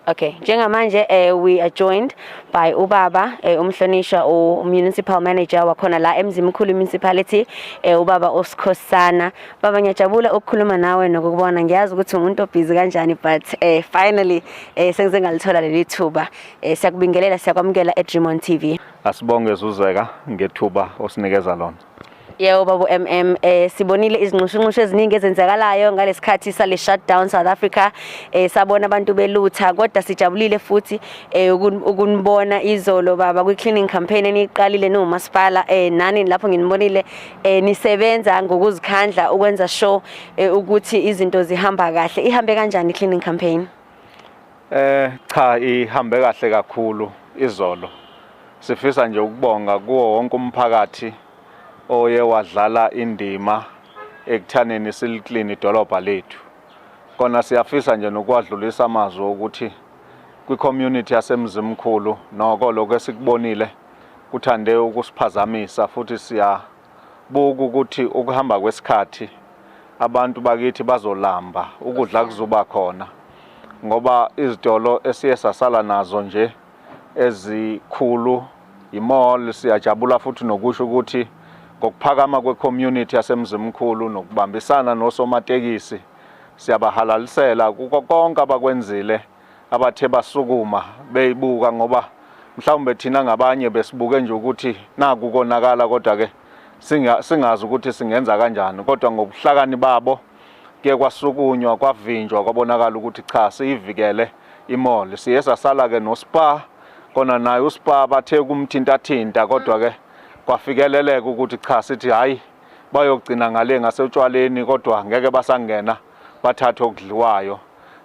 Okay, njengamanje eh we are joined by ubaba eh umhlonishwa u municipal manager wakhona la eMzimkhulu municipality eh ubaba uSikhosana. Baba ngiyajabula ukukhuluma nawe nokubona. Ngiyazi ukuthi umuntu obhizi kanjani but eh finally eh sengize ngalithola leli thuba. Eh siyakubingelela siyakwamukela eDream on TV. Asibonge Zuzeka ngethuba osinikeza lona. Yebo babu MM eh sibonile izinxushunxushu eziningi ezenzakalayo ngalesikhathi sale shutdown South Africa eh sabona abantu belutha kodwa sijabulile futhi eh ukunibona izolo baba kwi cleaning campaign eniqalile no masipala eh nani lapho nginibonile eh nisebenza ngokuzikhandla ukwenza show eh, ukuthi izinto zihamba kahle ihambe kanjani cleaning campaign Eh cha ihambe kahle kakhulu izolo. Sifisa nje ukubonga kuwo wonke umphakathi oye wadlala indima ekuthaneni siliclean idolobha lethu. Kona siyafisa nje nokwadlulisa amazwi ukuthi kwi-community yaseMzimkhulu noko lokho esikubonile kuthande ukusiphazamisa futhi siya Buka ukuthi ukuhamba kwesikhathi abantu bakithi bazolamba ukudla kuzoba khona ngoba izitolo esiye sasala nazo nje ezikhulu imall siyajabula futhi nokusho ukuthi ngokuphakama kwecommunity yasemzimkhulu nokubambisana nosomatekisi siyabahalalisela kuko konke abakwenzile abathe basukuma beyibuka ngoba mhlawumbe thina ngabanye besibuke nje ukuthi naku konakala kodwa ke singazi ukuthi singenza kanjani kodwa ngobuhlakani babo ke kwasukunywa kwavinjwa kwabonakala ukuthi cha siyivikele imall siye sasala ke nospa kona naye uspa bathe kumthintathinta kodwa ke kwafikeleleka ukuthi cha sithi hayi bayogcina ngale ngasewutshwaleni kodwa ngeke basangena bathathe okudliwayo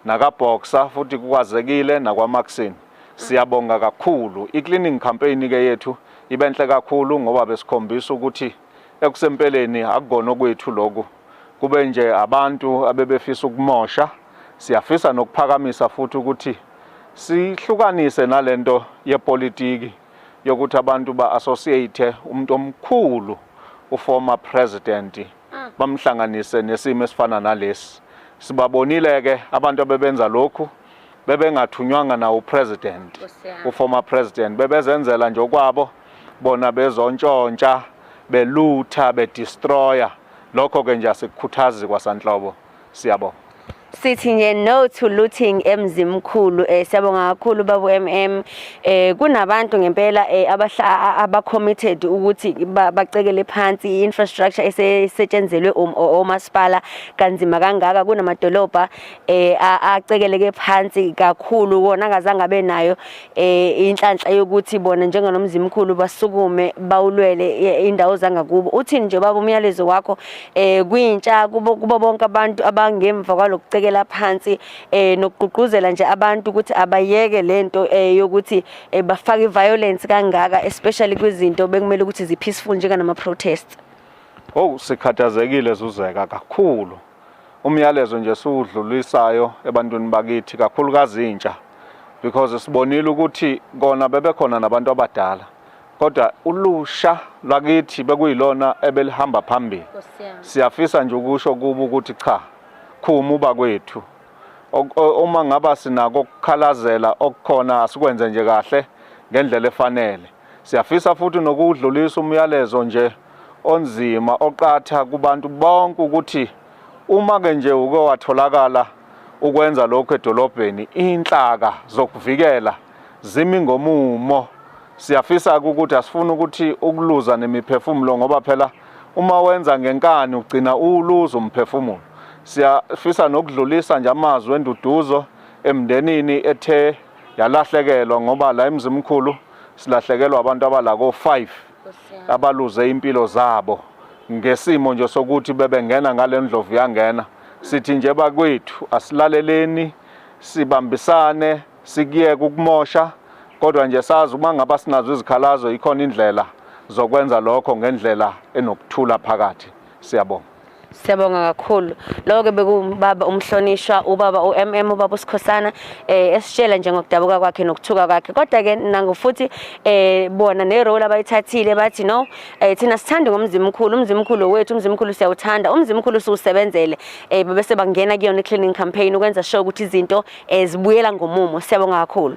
nakaBoxer futhi kukwazekile nakwaMaxin. Siyabonga kakhulu. I-cleaning campaign ke yethu ibenhle kakhulu ngoba besikhombisa ukuthi ekusempeleni akukona okwethu lokhu. Kube nje abantu abebefisa ukumosha. Siyafisa nokuphakamisa futhi ukuthi sihlukanise nalento yepolitiki yokuthi abantu ba-associate umuntu omkhulu uformer president mm. bamhlanganise nesimo esifana nalesi sibabonile ke abantu abebenza lokhu bebengathunywanga nawo president uformer president bebezenzela nje okwabo bona bezontshontsha belutha bedestroya lokho ke nje asikukhuthazi kwasanhlobo siyabonga sithi nje no to looting emzimkhulu eh siyabonga kakhulu babu MM eh kunabantu ngempela eh abahla aba committed ukuthi bacekele phansi infrastructure esetshenzelwe um, omasipala kanzima kangaka kunamadolobha eh acekeleke phansi kakhulu wona akazange abe nayo eh inhlanhla yokuthi bona njenganomzimkhulu basukume bawulwele eh, indawo zangakubo uthini nje baba umyalezo wakho eh kwintsha kubo kubo bonke abantu abangemva kwalokucekela phansi eh nokugqugquzela nje abantu ukuthi abayeke lento eh yokuthi eh, bafake violence kangaka especially kwizinto bekumele ukuthi zipeaceful njengana ma protests Oh sikhathazekile zuzeka kakhulu umyalezo nje siwudlulisayo ebantwini bakithi kakhulukazi intsha because sibonile ukuthi kona bebekhona nabantu abadala kodwa ulusha lwakithi bekuyilona ebelihamba phambili siyafisa nje ukusho kuba ukuthi cha khuma uba kwethu uma ngaba sinako ukukhalazela okukhona asikwenze nje kahle ngendlela efanele Siyafisa futhi nokuwudlulisa umyalezo nje onzima oqatha kubantu bonke ukuthi uma ke nje uke watholakala ukwenza lokho edolobheni inhlaka zokuvikela zimi ngomumo siyafisa ukuthi asifuni ukuthi ukuluza nemiphefumulo ngoba phela uma wenza ngenkani ugcina uwuluza umphefumulo siyafisa nokudlulisa nje amazwi enduduzo emndenini ethe yalahlekelwa ngoba la emzimkhulu silahlekelwa abantu abala ko-5 abaluze impilo zabo ngesimo nje sokuthi bebengena ngale ndlovu yangena sithi nje bakwethu asilaleleni sibambisane sikuyeke ukumosha kodwa nje sazi uma ngaba sinazo izikhalazo ikhona indlela zokwenza lokho ngendlela enokuthula phakathi Siyabonga. Siyabonga kakhulu. Lokho ke bekubaba umhlonishwa ubaba uMM ubaba uSikhosana eh esitshela nje ngokudabuka kwakhe nokuthuka kwakhe. Kodwa ke nangu futhi eh bona ne role abayithathile bathi no eh thina sithanda ngomzimba omkhulu, umzimba omkhulu wethu, umzimba omkhulu siyawuthanda, umzimba omkhulu siwusebenzele. Eh bese bangena kuyona cleaning campaign ukwenza sure ukuthi izinto ezibuyela eh, ngomumo. Siyabonga kakhulu.